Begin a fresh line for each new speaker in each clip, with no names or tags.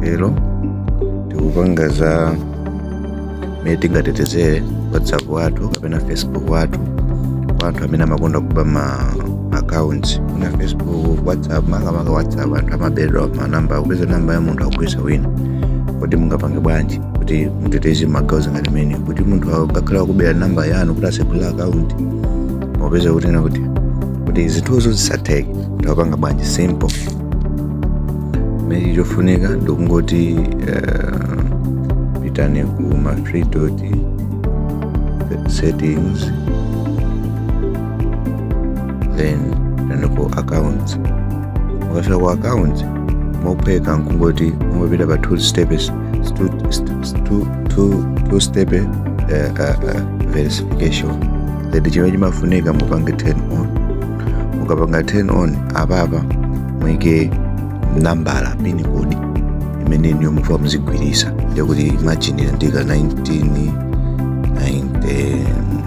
lero tikupanga za mmene tingatetezere whatsapp wathu kapena facebook wathu kwa anthu amene amakonda kuba ma account kuna facebook whatsapp makamaka whatsapp anthu amabedwa manamba kupeza namba ya munthu akugwiritsa wina kodi mungapange bwanji kuti muteteze magawo ngati amenewa kuti munthu akakhala wakubera namba yanu kuti asegula account mupeza kuti ena kuti kuti zinthuzo zisatheke tipanga bwanji simple chimene chofunika ndikungoti uh, pitani ku ma three dot settings then pitani ku accounts mukafika ku accounts mophweka nkungoti mungopita pa two steps two, two, two, two step uh, uh, uh, verification then chimene chimafunika mupange turn on mukapanga turn on apapa muike nambala pin code imene inuyo mukufuna muzigwiritsa ndiye kuti imagine ndaika 19 90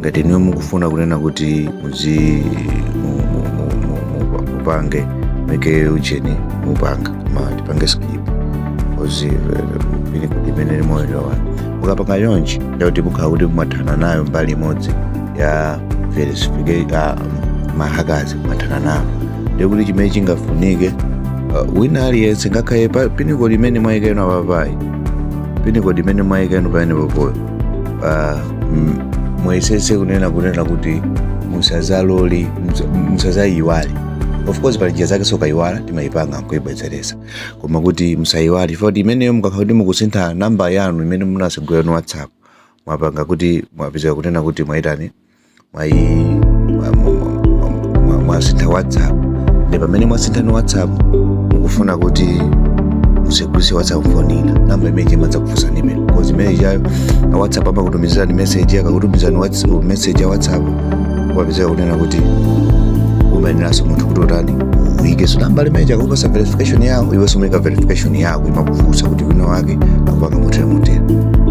ngati inuyo mukufuna kunena kuti muzi mu- mu- mu- mu- mu- mupange muike ujeni mupanga ma tipange skip pin code imene ilimoyo yalowa mukapanga chonchi ndiye kuti mukhala kuti mwathana nayo mbali imodzi ya verification ah, ma hackers mwathana nayo ndiye kuti chimene chingafunike uh, wina aliyense ngakhale pa- pin code imene mwayika inu apapayi pin code imene mwayika inu pamenepopoyo pa mm, muyesetse kunena kunena kuti musazalole musa- musazayiwale of course pali njira zake zokayiwala timayipanga nkuyibwezeretsa koma kuti musayiwale chifukwa kuti imeneyo mukakhala kuti mukusintha namba yanu imene munatsegulira inu whatsapp mwapanga kuti mwapezeka kunena kuti mwayitani mwayi mwasintha whatsapp ndi pamene mwasintha inu whatsapp mukufuna kuti mutsegulire whatsapp phone ina namba imene imadzakufunsani imene because imene ichayo a whatsapp amakutumizirani message akakutumizirani whats- message ya whatsapp kupezeka kunena kuti umayeneranso munthu kuti utani uyikenso nambala imene akupatsa verification yawo iwenso umaika verification yawo yako imakufunsa kuti wina wake akupanga motere motere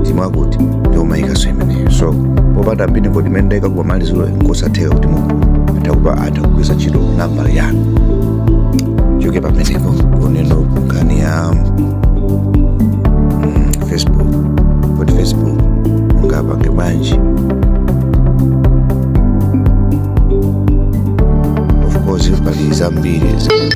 zimene kuti ndiye umayikanso imeneyo so popanda pin code imene ndayika kumamaliziro nkosatheka kuti munthu atha kupa atha kugwiritsa ntchito nambala yanu tichoke pamenepo kuno ku nkhani ya mm, facebook kodi facebook mungapange bwanji of course pali zambiri zimene